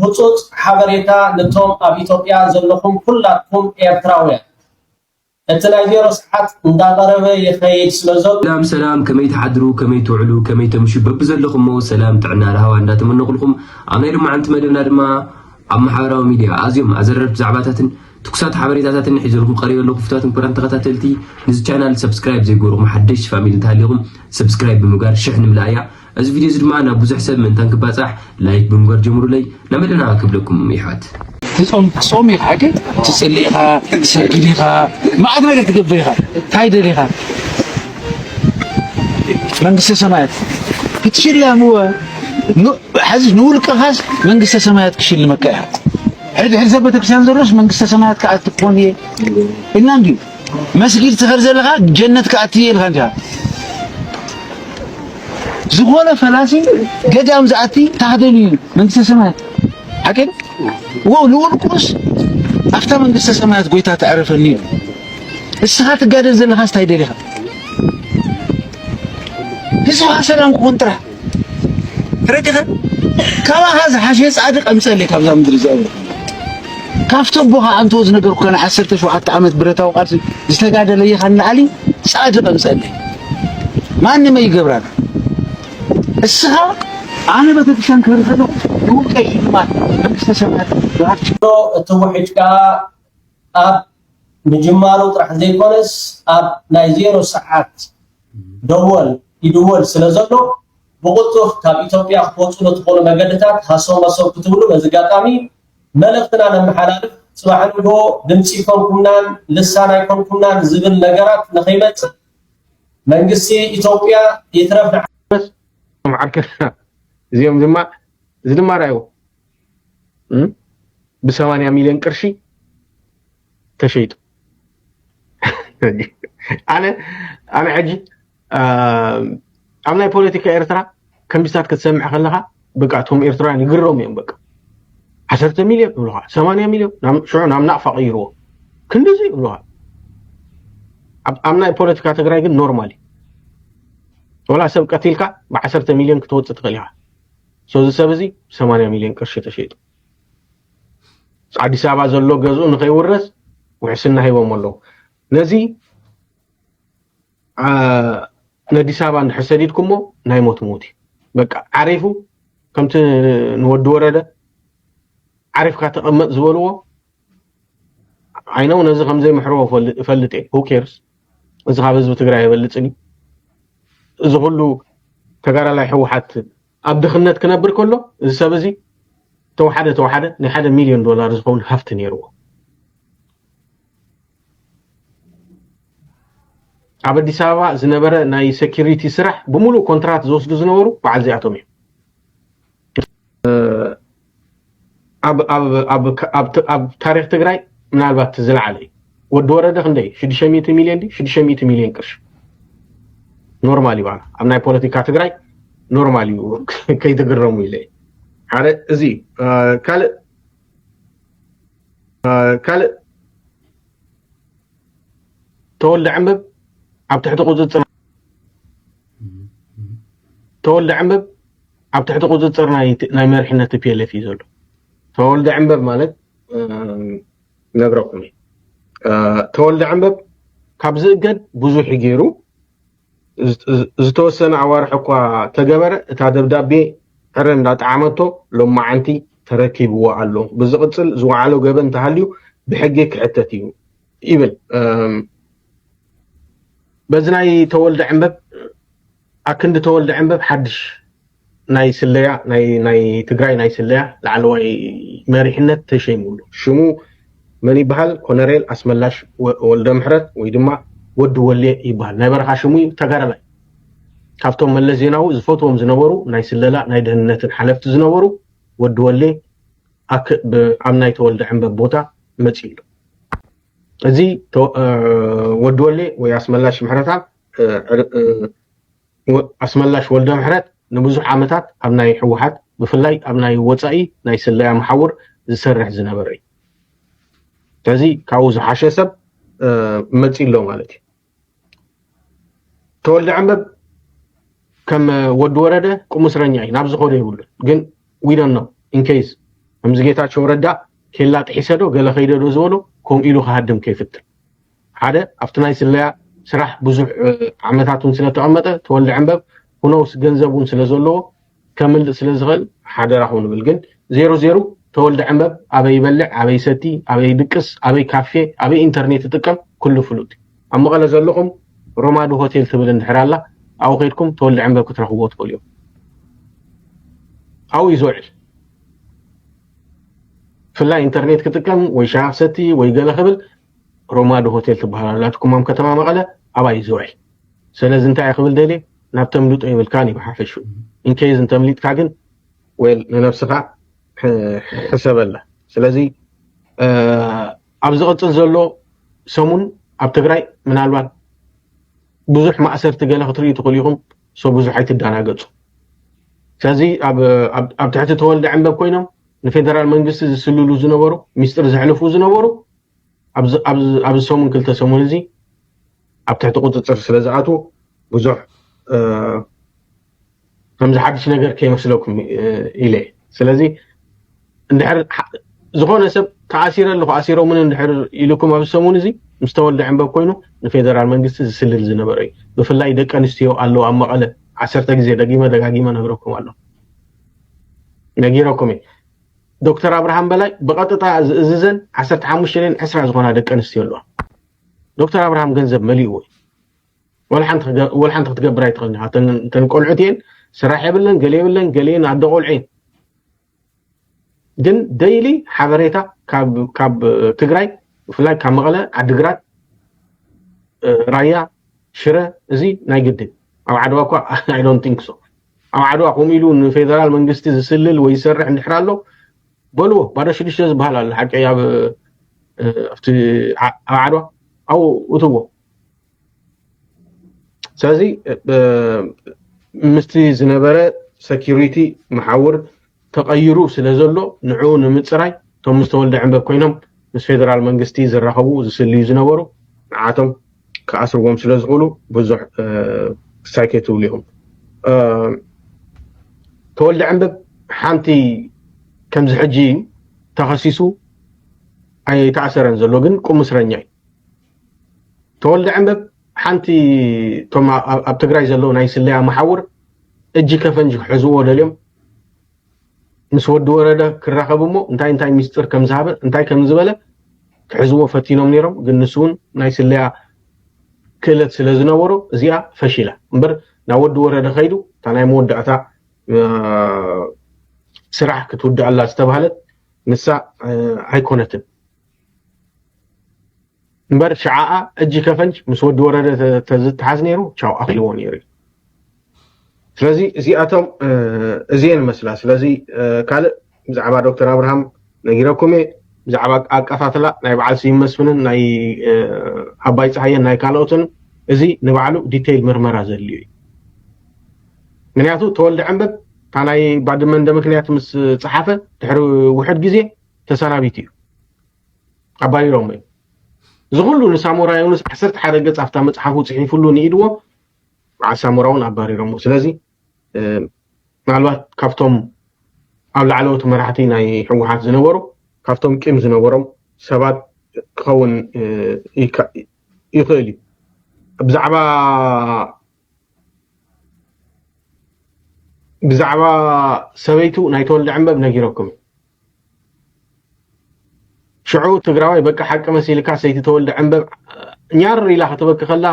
ህጹጽ ሓበሬታ ንቶም ኣብ ኢትዮጵያ ዘለኹም ኩላትኩም ኤርትራውያን እቲ ናይ ዜሮ ሰዓት እንዳቐረበ ይኸይድ ስለዘሎ ሰላም ሰላም ከመይ ትሓድሩ ከመይ ትውዕሉ ከመይ ተምሹ በብዘለኹሞ ሰላም ጥዕና ራህዋ እንዳተመነኹልኹም ኣብ ናይ ሎማዓንቲ መደብና ድማ ኣብ ማሕበራዊ ሚድያ ኣዝዮም ኣዘረርቲ ዛዕባታትን ትኩሳት ሓበሬታታትን ሒዘልኩም ቀሪበ ኣለኹ ፍቱዋትን ክቡራን ተኸታተልቲ ንዚ ቻናል ሰብስክራይብ ዘይገበርኹም ሓደሽቲ ፋሚሊ እንተሃሊኹም ሰብስክራይብ ብምግባር ሽሕ ንምልኣያ እዚ ቪድዮ እዚ ድማ ናብ ብዙሕ ሰብ ምእንታን ክባጻሕ ላይክ ብምግባር ጀምሩለይ ናመደና ክብለኩም ይሕዋት። ትጾም ትጾም ኢኻ ግን ትጽሊ ኢኻ ትሰግድ ኢኻ መዓት ነገር ትገብር ኢኻ እንታይ ደሊኻ መንግስተ ሰማያት ክትሽለም እወ ሕዚ ንውልቅኻስ መንግስተ ሰማያት ክሽልመካ ኢኻ ሕድሕድ ሰብ ቤተክርስትያን ዘሎስ መንግስተ ሰማያት ክኣቱ ክኾን እየ ኢልና እንድዩ መስጊድ ትኸድ ዘለኻ ጀነት ክኣቲ እየ ኢልካ እንዲኻ ዝኾነ ፈላሲ ገዳም ዝኣቲ ታህደሉ እዩ መንግስተ ሰማያት ሓቂ ወው ንውልቁስ ኣብታ መንግስተ ሰማያት ጎይታ ተዕረፈኒ እዩ እስኻ ትጋደል ዘለኻስ እንታይ ደሊኻ ህዝብኻ ሰላም ክኾን ጥራሕ ተረዲኻ ካባኻ ዝሓሸ ጻድቅ ኣምጸለይ ካብዛ ምድሪ እዚኣ ካብቲ ኣቦኻ ኣንተ ዝነገርኩካ ናይ ዓሰርተ ሸውዓተ ዓመት ብረታዊ ቃልሲ ዝተጋደለ ኢኻ ንላዕሊ ጻድቅ ኣምጸለይ ማንም ኣይገብራን እስኻ ኣነ ቤተክርስትያን ክህር ከለኹ ንውልቀይ ሽልማት መንግስተ ሰማያት እትውሕጅ ከዓ ኣብ ምጅማሩ ጥራሕ ዘይኮነስ ኣብ ናይ ዜሮ ሰዓት ደወል ይድወል ስለዘሎ ብቕልጡፍ ካብ ኢትዮጵያ ክትወፁ ንትኽእሉ መገድታት ሃሰው መሰው ክትብሉ በዚ ኣጋጣሚ መልእኽትና ነመሓላልፍ። ፅባሕ ንግሆ ድምፂ ኣይኮንኩምናን፣ ልሳን ኣይኮንኩምናን ዝብል ነገራት ንኸይመፅእ መንግስቲ ኢትዮጵያ ይትረፍ ንዓ። እዚኦም ድማ እዚ ድማ ርኣዩ። ብሰማንያ ሚሊዮን ቅርሺ ተሸይጡ ኣነ ኣነ ሕጂ ኣብ ናይ ፖለቲካ ኤርትራ ከምዚታት ክትሰምዕ ከለኻ በቃ እቶም ኤርትራውያን ይግረሙ እዮም በቃ ዓሰርተ ሚልዮን ይብሉኻ ሰማንያ ሚልዮን ሽዑ ናብ ናቕፋ ቀይርዎ ክንዲዚ ይብሉኻ ኣብ ናይ ፖለቲካ ትግራይ ግን ኖርማል እዩ ወላ ሰብ ቀቲልካ ብዓሰርተ ሚልዮን ክትወፅእ ትኽእል ኢኻ ሶ እዚ ሰብ እዚ ሰማንያ ሚልዮን ቅርሺ ተሸይጡ ኣዲስ ኣበባ ዘሎ ገዝኡ ንኸይውረስ ውሕስና ሂቦሞ ኣለዉ ነዚ ነዲስ ኣበባ እንድሕር ሰዲድኩሞ ናይ ሞት ሞት እዩ በቃ ዓሪፉ ከምቲ ንወዲ ወረደ ዓሪፍካ ተቐመጥ ዝበልዎ ዓይነ እውን እዚ ከምዘይ ምሕርዎ እፈልጥ እየ ሁኬርስ እዚ ካብ ህዝቢ ትግራይ ይበልፅን እዩ እዚ ኩሉ ተጋዳላይ ሕወሓት ኣብ ድኽነት ክነብር ከሎ እዚ ሰብ እዚ ተወሓደ ተወሓደ ናይ ሓደ ሚሊዮን ዶላር ዝኸውን ሃፍቲ ነይርዎ ኣብ ኣዲስ ኣበባ ዝነበረ ናይ ሴኪሪቲ ስራሕ ብምሉእ ኮንትራት ዝወስዱ ዝነበሩ በዓል እዚኣቶም እዮም ኣብ ታሪክ ትግራይ ምናልባት ዝለዓለ እዩ ወዲ ወረደ ክንደይ ሽዱሽተ ሚእቲ ሚልዮን ድዩ ሽዱሽተ ሚእቲ ሚልዮን ቅርሺ ኖርማል እዩ ባና ኣብ ናይ ፖለቲካ ትግራይ ኖርማል እዩ ከይትግረሙ ኢለ እዩ ሓደ እዚ እዩ። አ፣ ካልእ አ፣ ካልእ ተወልደ ዕንብብ ኣብ ትሕቲ ቁፅፅር ተወልደ ዕንብብ ኣብ ትሕቲ ቁፅፅር ናይ መሪሕነት tplf እዩ ዘሎ። ተወልደ ዕንበብ ማለት ነግረኩም እየ ተወልደ ዕንበብ ካብ ዝእገድ ብዙሕ ገይሩ ዝተወሰነ ኣዋርሕ እኳ ተገበረ እታ ደብዳቤ ዕረ እንዳጠዓመቶ ሎማዓንቲ ተረኪብዎ ኣሎ ብዝቕፅል ዝወዓሎ ገበን እንተሃልዩ ብሕጊ ክሕተት እዩ ይብል በዚ ናይ ተወልደ ዕንበብ ኣክንዲ ተወልደ ዕንበብ ሓድሽ ናይ ስለያ ናይ ትግራይ ናይ ስለያ ላዕለዋይ መሪሕነት ተሸይሙሉ ሽሙ መን ይበሃል ኮነሬል ኣስመላሽ ወልደምሕረት ወይ ድማ ወዲ ወሌ ይበሃል ናይ በረኻ ሽሙ እዩ ተጋዳላይ ካብቶም መለስ ዜናዊ ዝፈትዎም ዝነበሩ ናይ ስለላ ናይ ደህንነትን ሓለፍቲ ዝነበሩ ወዲ ወሌ ኣብ ናይ ተወልደ ዕንበብ ቦታ መፂኡ ኣሎ እዚ ወዲ ወሌ ወይ ኣስመላሽ ምሕረታ ኣስመላሽ ወልደምሕረት ንብዙሕ ዓመታት ኣብ ናይ ህወሓት ብፍላይ ኣብ ናይ ወፃኢ ናይ ስለያ መሓውር ዝሰርሕ ዝነበረ እዩ ስለዚ ካብኡ ዝሓሸ ሰብ መፂ ኣሎ ማለት እዩ ተወልደ ዕንበብ ከም ወዲ ወረደ ቁም እስረኛ እዩ ናብ ዝኾነ ይብሉ ግን ዊዶን ነው ኢንኬዝ ከምዚ ጌታቸው ረዳ ኬላ ጥሒሰዶ ገለ ከይደዶ ዝበሎ ከምኡ ኢሉ ክሃድም ከይፍትን ሓደ ኣብቲ ናይ ስለያ ስራሕ ብዙሕ ዓመታት እውን ስለ ተቐመጠ ተወልደ ዕንበብ ሁኖውስ ገንዘብ እውን ስለ ዘለዎ ከምልጥ ስለ ዝኽእል ሓደራኹም ንብል ግን ዜሩ ዜሩ ተወልደ ዕንበብ ኣበይ ይበልዕ ኣበይ ይሰቲ ኣበይ ይድቅስ ኣበይ ካፌ ኣበይ ኢንተርኔት ይጥቀም ኩሉ ፍሉጥ እዩ ኣብ መቐለ ዘለኹም ሮማዲ ሆቴል ትብል እንድሕር ኣላ ኣብኡ ከይድኩም ተወልደ ዕንበብ ክትረኽብዎ ትኽእሉ እዮም ኣብኡ እዩ ዝውዕል ብፍላይ ኢንተርኔት ክጥቀም ወይ ሻሂ ክሰቲ ወይ ገለ ክብል ሮማ ዶ ሆቴል ትብሃል ኣላትኩም ኣብ ከተማ መቐለ ኣባይ ዙርይ ሰለዚ እንታይ ክብል ደልየ ናብ ተምልጦ የብልካን እዩ ብሓፈሹ ኢንኬዝ እንተምሊጥካ ግን ዌል ንነብስኻ ሕሰበላ ስለዚ ኣብ ዝቕፅል ዘሎ ሰሙን ኣብ ትግራይ ምናልባት ብዙሕ ማእሰርቲ ገለ ክትርእዩ ትኽእሉ ኢኹም ሰው ብዙሕ ኣይትደናገፁ ስለዚ ኣብ ትሕቲ ተወልደ ዕንበብ ኮይኖም ንፌደራል መንግስቲ ዝስልሉ ዝነበሩ ሚስጥር ዘሕልፉ ዝነበሩ ኣብዚ ሰሙን ክልተ ሰሙን እዚ ኣብ ትሕቲ ቁፅፅር ስለ ዝኣትዉ ብዙሕ ከምዚ ሓድሽ ነገር ከይመስለኩም ኢለ እየ ስለዚ እንድሕር ዝኾነ ሰብ ተኣሲረ ኣለኹ ኣሲሮምን እንድሕር ኢሉኩም ኣብዚ ሰሙን እዚ ምስ ተወልደ ዕንበብ ኮይኑ ንፌደራል መንግስቲ ዝስልል ዝነበረ እዩ ብፍላይ ደቂ ኣንስትዮ ኣለዎ ኣብ መቐለ ዓሰርተ ግዜ ደጊመ ደጋጊመ ነግረኩም ኣለኹ ነጊረኩም እየ ዶክተር ኣብርሃም በላይ ብቐጥታ ዝእዝዘን ዓሰርተ ሓሙሽተ ን ዕስራ ዝኾና ደቂ ኣንስትዮ ኣለዋ ዶክተር ኣብርሃም ገንዘብ መሊእዎ እዩ ወላ ሓንቲ ክትገብር ኣይትኽእልን ኢኻ እተን ቆልዑት እየን ስራሕ የብለን ገለ የብለን ገሊኤን ኣደ ቆልዑ እየን ግን ደይሊ ሓበሬታ ካብ ትግራይ ብፍላይ ካብ መቐለ ዓዲግራት ራያ ሽረ እዚ ናይ ግድን ኣብ ዓድዋ እኳ ኣይ ዶንት ቲንክ ሶ ኣብ ዓድዋ ከምኡ ኢሉ ንፌደራል መንግስቲ ዝስልል ወይ ዝሰርሕ እንድሕር ኣሎ በልዎ ባዶ ሽዱሽተ ዝበሃል ኣሎ ሓቂ ኣብ ኣብቲ ኣብ ዓድዋ ኣብኡ እትዎ ስለዚ ምስቲ ዝነበረ ሰኪሪቲ መሓውር ተቐይሩ ስለ ዘሎ ንዕኡ ንምጽራይ እቶም ምስ ተወልደ ዕንበብ ኮይኖም ምስ ፌደራል መንግስቲ ዝራኸቡ ዝስልዩ ዝነበሩ ንዓቶም ክኣስርዎም ስለ ዝኽእሉ ብዙሕ ክሳይ ከይትብሉ ኢኹም ተወልደ ዕንበብ ሓንቲ ከምዚ ሕጂ እዩ ተኸሲሱ ኣይተኣሰረን ዘሎ ግን ቁም እስረኛ እዩ ተወልደ ዕንበብ ሓንቲ እቶም ኣብ ትግራይ ዘለዉ ናይ ስለያ መሓውር እጅ ከፈንጅ ክሕዝዎ ደልዮም ምስ ወዲ ወረደ ክራኸብ እሞ እንታይ እንታይ ሚስጥር ከም ዝሃበ እንታይ ከም ዝበለ ክሕዝዎ ፈቲኖም ነይሮም ግን ንሱ እውን ናይ ስለያ ክእለት ስለ ዝነበሮ እዚኣ ፈሺላ እምበር ናብ ወዲ ወረደ ከይዱ እታ ናይ መወዳእታ ስራሕ ክትውድኣላ ዝተባህለት ንሳ ኣይኮነትን እምበር ሽዓኣ እጂ ከፈንጅ ምስ ወዲ ወረደ ተዝተሓዝ ነይሩ ቻው ኣኪልዎ ነይሩ እዩ ስለዚ እዚኣቶም እዚኤን መስላ ስለዚ ካልእ ብዛዕባ ዶክተር ኣብርሃም ነጊረኩም እየ ብዛዕባ ኣቀታትላ ናይ በዓል ስዩም መስፍንን ናይ ኣባይ ፀሃየን ናይ ካልኦትን እዚ ንባዕሉ ዲቴይል ምርመራ ዘድልዩ እዩ ምክንያቱ ተወልደ ዕንበብ እታ ናይ ባድመ እንደ ምክንያት ምስ ፀሓፈ ድሕሪ ውሕድ ግዜ ተሰናቢቱ እዩ ኣባሪሮሞ እዩ እዚ ኩሉ ንሳሞራ ዮኑስ ዓሰርተ ሓደ ገጽ ኣብታ መጽሓፉ ጽሒፍሉ ንኢድዎ በዓል ሳሞራ እውን ኣባሪሮሞ ስለዚ ምናልባት ካብቶም ኣብ ላዕለዎት መራሕቲ ናይ ህወሓት ዝነበሩ ካብቶም ቂም ዝነበሮም ሰባት ክኸውን ይኽእል እዩ ብዛዕባ ብዛዕባ ሰበይቱ ናይ ተወልደ ዕንበብ ነጊረኩም እዩ ሽዑ ትግራዋይ በቃ ሓቂ መሲልካ ሰይቲ ተወልደ ዕንበብ ኛር ኢላ ከተበኪ ከላ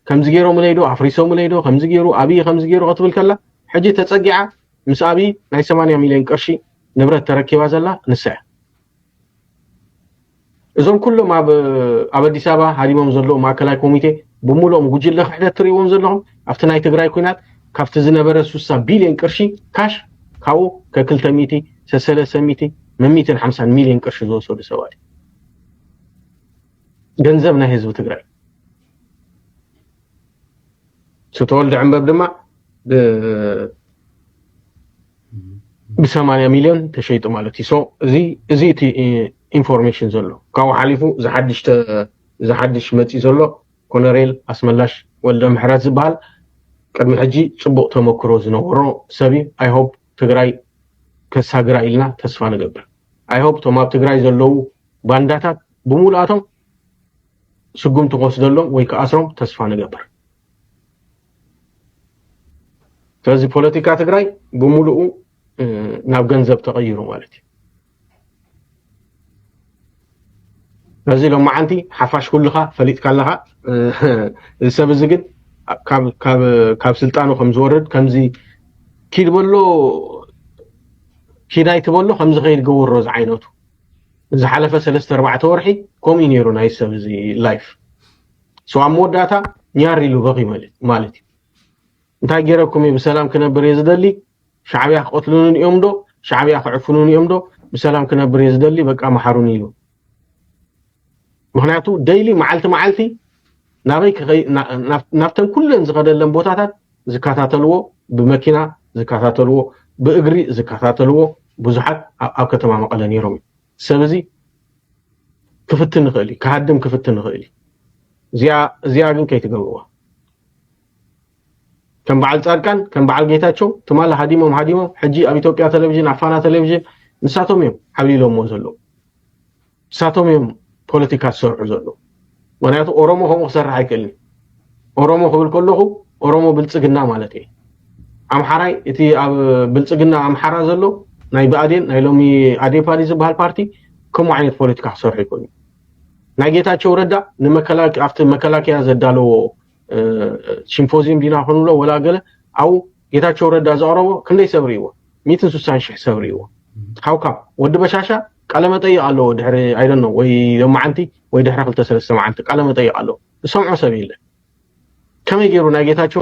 ከምዚ ገይሮምለይ ዶ ኣፍሪሶምለይ ዶ ከምዚ ገይሩ ኣብይ ከምዚ ገይሩ ክትብል ከላ ሕጂ ተፀጊዓ ምስ ኣብይ ናይ 80 ሚልዮን ቅርሺ ንብረት ተረኪባ ዘላ ንሳ እያ እዞም ኩሎም ኣብ ኣብ ኣዲስ ኣበባ ሃዲሞም ዘለዉ ማእከላይ ኮሚቴ ብምሉኦም ጉጅለ ክሕደት ትርእይዎም ዘለኹም ኣብቲ ናይ ትግራይ ኩናት ካብቲ ዝነበረ ሱሳ ቢልዮን ቅርሺ ካሽ ካብኡ ከክልተ ሚእቲ ሰሰለሰ ሚእቲ መሚትን ሓምሳን ሚልዮን ቅርሺ ዝወሰዱ ሰባት ገንዘብ ናይ ህዝቢ ትግራይ ስተወልደ ዕንበብ ድማ ብሰማንያ ሚልዮን ተሸይጡ ማለት እዩ። ሶ እዚ እዚ እቲ ኢንፎርሜሽን ዘሎ ካብኡ ሓሊፉ ዝሓድሽ ዝሓድሽ መፂ ዘሎ ኮነሬል ኣስመላሽ ወልደ ምሕረት ዝበሃል ቅድሚ ሕጂ ፅቡቅ ተመክሮ ዝነበሮ ሰብ እዩ። ኣይ ሆፕ ትግራይ ከሳግራ ኢልና ተስፋ ንገብር። ኣይ ሆፕ እቶም ኣብ ትግራይ ዘለዉ ባንዳታት ብሙሉኣቶም ስጉምቲ ክወስደሎም ወይ ክኣስሮም ተስፋ ንገብር። ስለዚ ፖለቲካ ትግራይ ብምሉኡ ናብ ገንዘብ ተቐይሩ ማለት እዩ ነዚ ሎማዓንቲ ሓፋሽ ኩልኻ ፈሊጥካ ኣለኻ እዚ ሰብ እዚ ግን ካብ ስልጣኑ ከም ዝወርድ ከምዚ ኪድ በሎ ኪድ ኣይትበሎ ከም ዝኸይድ ገበሮ ዝዓይነቱ ዝሓለፈ ሰለስተ ኣርባዕተ ወርሒ ከምኡ ነይሩ ናይ ሰብ እዚ ላይፍ ሰው ኣብ መወዳእታ ኛር ኢሉ በኺ ማለት እዩ እንታይ ገይረኩም እዩ ብሰላም ክነብር እየ ዝደሊ ሻዕብያ ክቐትሉንን እዮም ዶ ሻዕብያ ክዕፍኑን እዮም ዶ ብሰላም ክነብር እየ ዝደሊ በቃ መሓሩኒ ኢሉ ምክንያቱ ደይሊ መዓልቲ መዓልቲ ናበይ ናብተን ኩለን ዝኸደለን ቦታታት ዝከታተልዎ ብመኪና ዝከታተልዎ ብእግሪ ዝከታተልዎ ብዙሓት ኣብ ከተማ መቐለ ነይሮም እዩ ሰብ እዚ ክፍትን ይኽእል እዩ፣ ክሃድም ክፍትን ይኽእል እዩ። እዚኣ እዚኣ ግን ከይትገብርዋ። ከም በዓል ጻድቃን ከም በዓል ጌታቸው ትማሊ ሃዲሞም ሃዲሞም ሕጂ ኣብ ኢትዮጵያ ቴሌቪዥን ኣብ ፋና ቴሌቪዥን ንሳቶም እዮም ዓብሊሎምዎ ዘለዉ ንሳቶም እዮም ፖለቲካ ዝሰርሑ ዘለዉ ምክንያቱ ኦሮሞ ከምኡ ክሰርሕ ኣይክእልን ኦሮሞ ክብል ከለኹ ኦሮሞ ብልፅግና ማለት እየ ኣምሓራይ እቲ ኣብ ብልፅግና ኣምሓራ ዘሎ ናይ ብኣዴን ናይ ሎሚ ኣዴፓ ድዩ ዝበሃል ፓርቲ ከምኡ ዓይነት ፖለቲካ ክሰርሑ ይኽእሉ ናይ ጌታቸው ረዳ ንመከላከ ኣብቲ መከላከያ ዘዳለዎ ሲምፖዚየም ዲና ክንብሎ ወላ ገለ ኣብኡ ጌታቸው ረዳ ዘቕረቦ ክንደይ ሰብ ርእይዎ ሚትን ስሳን ሽሕ ሰብ ርእይዎ ሓውካ ወዲ በሻሻ ቃለ መጠይቕ ኣለዎ ድሕሪ ኣይደኖ ወይ ሎማዓንቲ ወይ ድሕሪ ክልተ ሰለስተ መዓልቲ ቃለ መጠይቕ ኣለዎ ዝሰምዖ ሰብ የለ ከመይ ገይሩ ናይ ጌታቸው